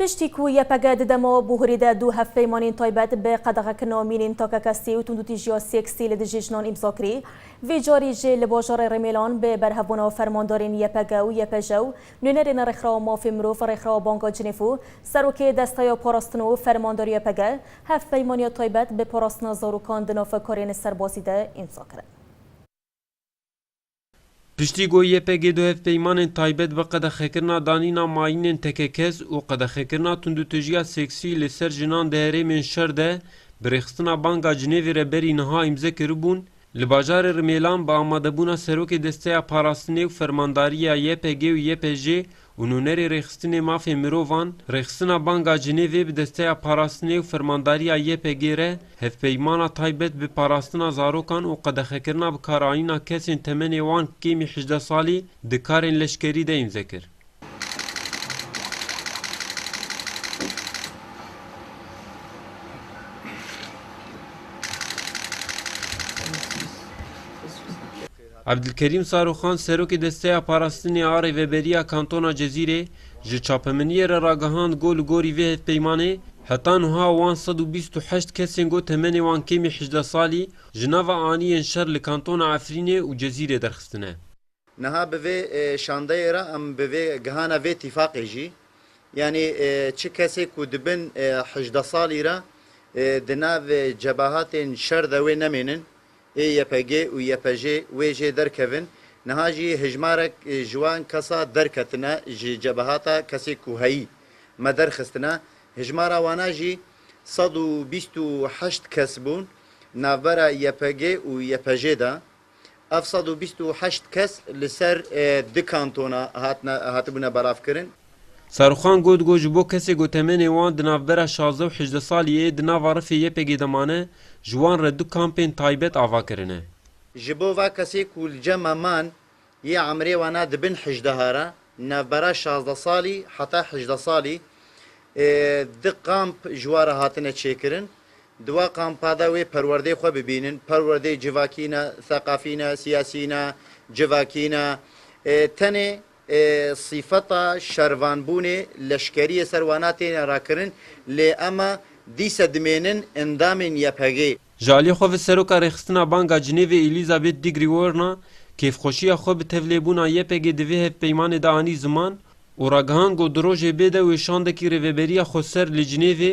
Piştî ku YPG di dema Buhurî de du hevpeymanên taybet bi qedexekirina mînên takekestî û tundûtîjiya seksî li dijî jinan îmza kirî, vê carî jî li bajarê Rêmêlan bi berhevbûna fermandarên YPG û YPJ û nûnerên Rêxirawa Mafên Mirov, Rêxirawa Banga Cinêv û Serokê Desteya Parastin û Fermandar YPG hevpeymaniya taybet bi parastina zarokan di nav karên serbazî de îmza kirin. Piştî ku YPG du hevpeymanên taybet bi qedexekirina danîna mayînên tekekez û qedexekirina tundûtijiya seksî li ser jinan di herêmên şer de bi rêxistina banga Cinêvê re berî niha îmze kiribûn, li bajarê Rimêlan bi amadebûna Serokê Desteya Parastinê û Fermandarîya YPG û YPJ'ê û nûnerê rêxistinê mafê mirovan, rêxistina Banga Cinêvê bi desteya parastinê û fermandariya YPG'ê re hevpeymana taybet bi parastina zarokan û qedexekirina bikaranîna kesên temenê wan kêmî hejdeh salî di karên leşkerî de îmze kir. Evdilkerîm Saroxan Serokê Desteya Parastinê a Rêveberiya Kantona Cezîrê ji çapemeniyê re ragihand got li gorî vê hevpeymanê heta nuha wan sed û bîst û heşt kesên got temenê wan kêm î hejdeh salî ji nava aniyên şer li kantona Efrînê û Cezîrê derxistine. Niha bi vê şandeyê re em bi vê gihana vê tîfaqê jî yanî çi kesê ku dibin hejdeh salî re di nav cebahatên şer de wê nemênin Ê YPG û YPJ wê jê derkevin, niha jî hejmarek ji wan kesa derketine ji cebehata kesê ku heyî me derxistine, hejmara wana jî sed û bîst û heşt kes bûn navbera YPG û YPJ de. Ev sed û bîst û heşt kes li ser du kantona hatine hatibûne belavkirin. Serûxan got ku ji bo kesê ku temenê wan di navbera şazdeh û hejdeh salî yê di nava rifê YPG'ê de mane, ji wan re du kampên taybet ava kirine. Ji bo va kesê ku li cema man yê emirê wan a di bin hejdeha re, di navbera şazdeh salî heta hejdeh salî, du kamp ji wan re hatine çêkirin. Di wa kampa de wê perwerdeyê xwe bibînin, perwerdeyê civakî ne, theqafî ne, siyasî ne, civakî ne. Tenê Sîfeta şervanbûnê leşkeriyê ser wana têne rakirin lê ema dîse dimênin endamên YPG'ê. Ji aliyê xwe ve Seroka Rêxistina Banga Cinêvê Elizabeth Di Grigorna kêfxweşiya xwe bi tevlêbûna YPG'ê di vê hevpeymanê de anî ziman û ragihan ku di rojê bê de wê şandekî rêveberiya xweser li Cinêvê